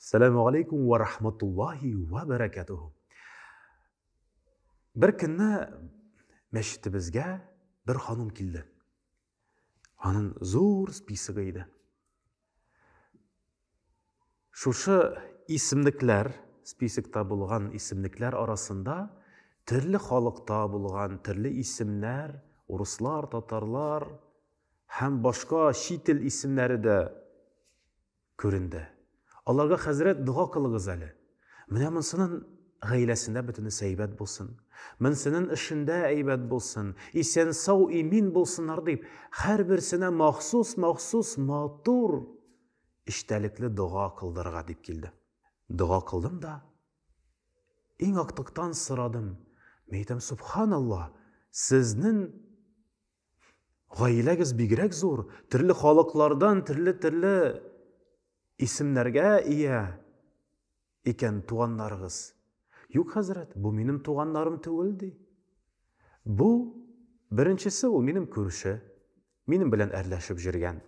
Сәләму алейкум ва рахматуллахи ва баракатуху. Бер көнне мәчетебезгә бер ханым килде. Аның зур списогы иде. Шушы исемлекләр, списокта булган исемлекләр арасында төрле халыкта булган төрле исемнәр, урыслар, татарлар һәм башка чит ил исемнәре дә Күренде. Аларга хәзрәт дога кылыгыз әле. Менә монсынын гаиләсендә бөтенесе әйбәт булсын, монсенын эшендә әйбәт булсын, исән-сау, имин булсыннар дип, һәрберсенә махсус-махсус матур, эчтәлекле дога кылдырырга дип килдем. Дога кылдым да, иң актыктан сорадым, мин әйтәм, Субханалла, сезнен Гаиләгез бигрәк зур, төрле халыклардан төрле-төрле исемнәргә ия икән туганнарыгыз. Юк, хәзрәт, бу минем туганнарым түгел, ди. Бу беренчесе ул минем күрше, минем белән әрләшеп җөргән.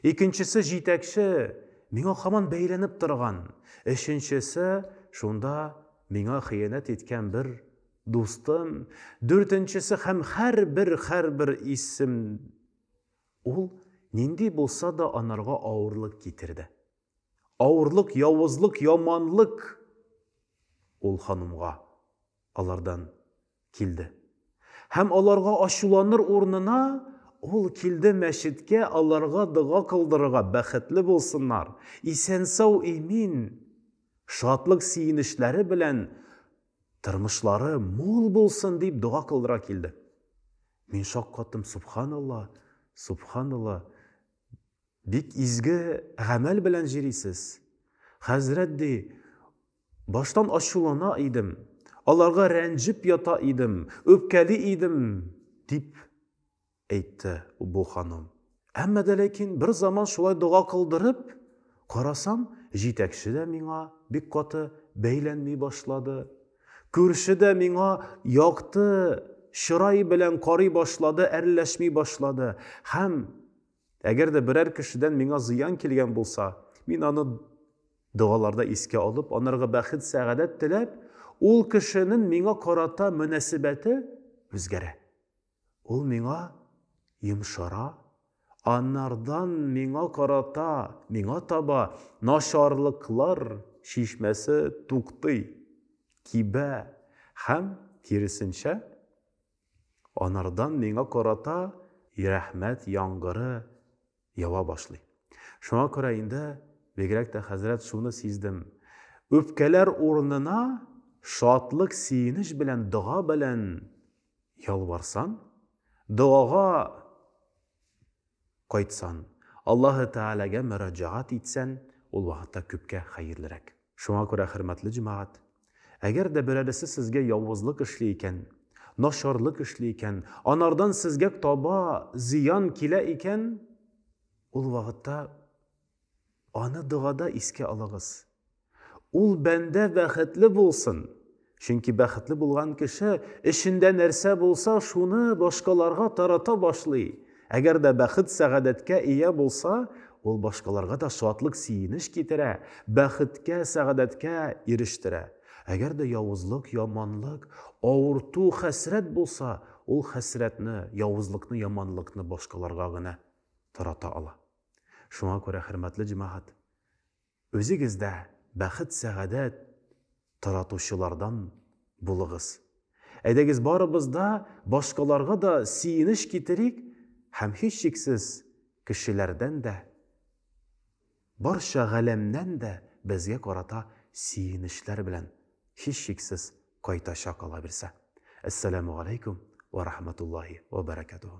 Икенчесе җитәкче, миңа хаман бәйләнеп торган. Өченчесе, шунда миңа хыянәт иткән бер дустым. Дүртенчесе һәм һәрбер, һәрбер исем ул нинди булса да анарга авырлык китерде. Авырлык, явызлык, яманлык ул ханымга Алардан килде. Һәм аларга ачуланыр урынына, ул килде мәчеткә аларга дога кылдырырга, бәхетле булсыннар, исән-сау имин, шатлык сөенечләре белән тормышлары мул булсын дип дога кылдыра килде. Мин шаккаттым, субханалла, субханалла, бик изге гамәл белән җирисез. Хәзрәт ди, Баштан ачулана идем, аларга рәнҗеп ята идем, үпкәли идем, дип әйтте бу ханым. Әмма дә ләкин бер заман шулай дога кылдырып, карасам, җитәкче дә миңа бик каты бәйләнми башлады. Күрше дә миңа якты чырай белән карый башлады, әрләшми башлады. Һәм әгәр дә берәр кешедән миңа зыян килгән булса, мин аны Догаларда искә алып, анарга бәхет-сәгадәт теләп, ул кешенен миңа карата мөнәсәбәте үзгәрә. Ул миңа йомшара, анардан миңа карата, миңа таба начарлыклар чишмәсе туктый, кибә һәм, киресенчә, анардан миңа карата рәхмәт яңгыры Ява башлый. Шуңа күрә инде, бигрәк тә хәзрәт шуны сиздем, үпкәләр урынына шатлык, сөенеч белән, дога белән ялварсан, догага кайтсан, Аллаһы Тәгаләгә мөрәҗәгать итсән, ул вакытта күпкә хәерлерәк. Шуңа күрә, хөрмәтле җәмәгать, әгәр дә берәресе сезгә явызлык эшли икән, начарлык эшли икән, анардан сезгә таба зыян килә икән, ул вакытта аны догада искә алыгыз. Ул бәндә бәхетле булсын, Чөнки бәхетле булган кеше эчендә нәрсә булса, шуны башкаларга тарата башлый. Әгәр дә бәхет сәгадәткә ия булса, ул башкаларга да шатлык, сөенеч китерә, бәхеткә, сәгадәткә ирештерә. Әгәр дә явызлык, яманлык, авырту, хәсрәт булса, ул хәсрәтне, явызлыкны, яманлыкны башкаларга гына тарата ала. Шуңа күрә, хөрмәтле җәмәгать, Үзегез дә бәхет-сәгадәт таратучылардан булыгыз. Әйдәгез барыбыз да башкаларга да сөенеч китерик һәм һичшиксез кешеләрдән дә, барча галәмнән дә безгә карата сөенечләр белән һичшиксез кайтачак Аллабирса. Әссәләмү галәйкүм вә рахматуллаһи вә бәрәкәтүһү.